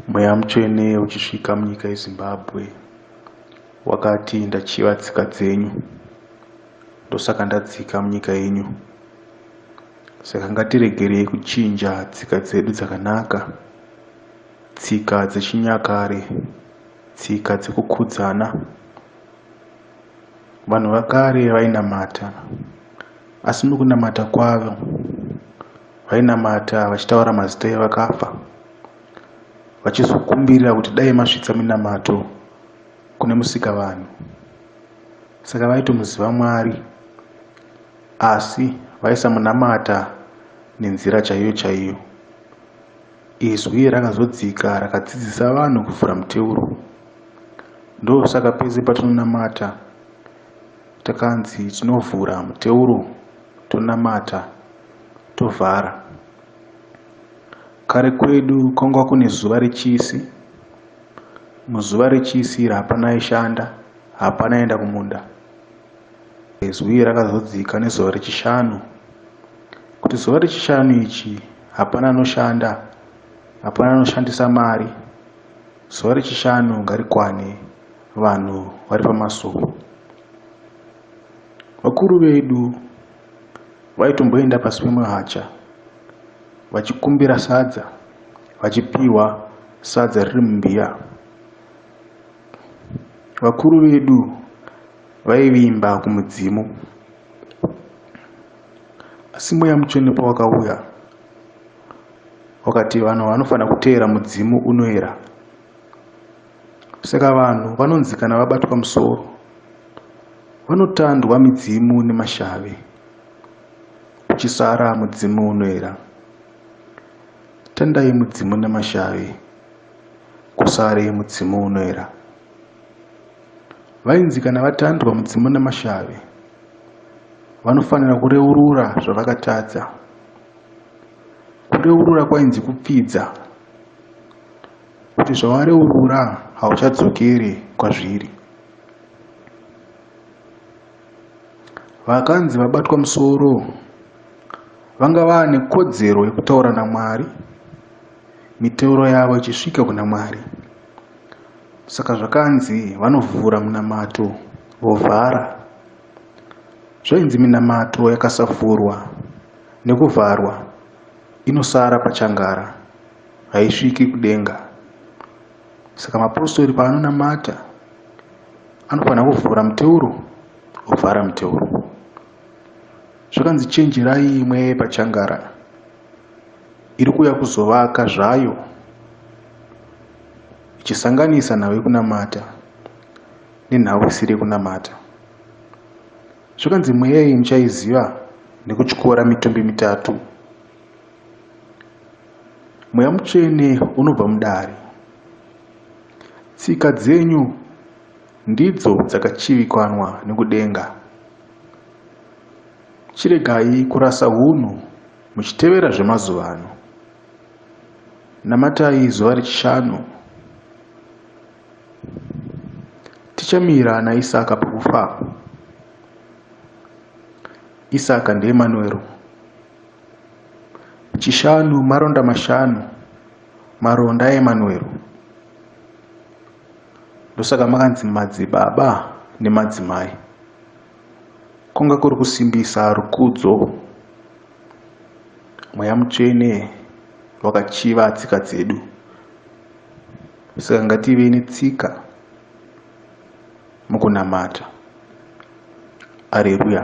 Mweya mutsvene uchisvika munyika yeZimbabwe wakati ndachiva tsika dzenyu ndosaka ndadzika munyika yenyu saka ngatiregerei kuchinja tsika dzedu dzakanaka tsika dzechinyakare tsika dzekukudzana Vanhu vakare vainamata, asi mukunamata kwavo vainamata vachitaura mazita evakafa, vachizokumbirira kuti dai masvitsa minamato kune musika vanhu. Saka vaitomuziva Mwari, asi vaisamunamata nenzira chaiyo chaiyo. Izwi rakazodzika rakadzidzisa vanhu kuvhura muteuro. Ndosaka pese patinonamata takanzi tinovhura muteuro tonamata tovhara. Kare kwedu kwanga kune zuva rechisi. Muzuva rechisi iri hapana aishanda, hapana aienda kumunda. Izwi iri rakazodzika nezuva rechishanu, kuti zuva rechishanu ichi hapana anoshanda, hapana anoshandisa mari, zuva rechishanu ngarikwane vanhu vari pamasuo. Vakuru vedu vaitomboenda pasi pemuhacha vachikumbira sadza, vachipiwa sadza riri mumbiya. Vakuru vedu vaivimba kumudzimu. Asi mweya mutsvene pawakauya wakati vanhu vanofanira kuteera mudzimu unoera. Saka vanhu vanonzi kana vabatwa musoro vanotandwa midzimu nemashavi kuchisara mudzimu unoera. Tandai mudzimu nemashavi kusare mudzimu unoera. Vainzi kana vatandwa mudzimu namashavi vanofanira kureurura zvavakatadza. Kureurura kwainzi kupfidza kuti zvawareurura hauchadzokeri kwazviri. Vakanzi vabatwa musoro vanga vaane kodzero yekutaura naMwari, miteuro yavo ichisvika kuna Mwari. Saka zvakanzi vanovhura munamato vovhara. Zvainzi minamato yakasavhurwa nekuvharwa inosara pachangara, haisviki kudenga. Saka mapostori paanonamata anofanira kuvhura muteuro ovhara muteuro. Zvakanzi chenjerai imwe pachangara. iri kuuya kuzovaka zvayo ichisanganisa nhau yekunamata nenhau isiri yekunamata zvakanzi mweya iyi muchaiziva nekutyora mitumbi mitatu mweya mutsvene unobva mudare tsika dzenyu ndidzo dzakachivikanwa nekudenga chiregai kurasa hunhu Muchitevera zvemazuva ano, namatai zuva rechishanu. Tichamira naIsaka pakufa. Isaka ndiEmanuero. Chishanu maronda mashanu, maronda aEmanuero. Ndosaka makanzi madzibaba nemadzimai. Kunga kuri kusimbisa rukudzo, Mweya Mutsvene wakachiva tsika dzedu. Saka ngative netsika mukunamata. Areruya.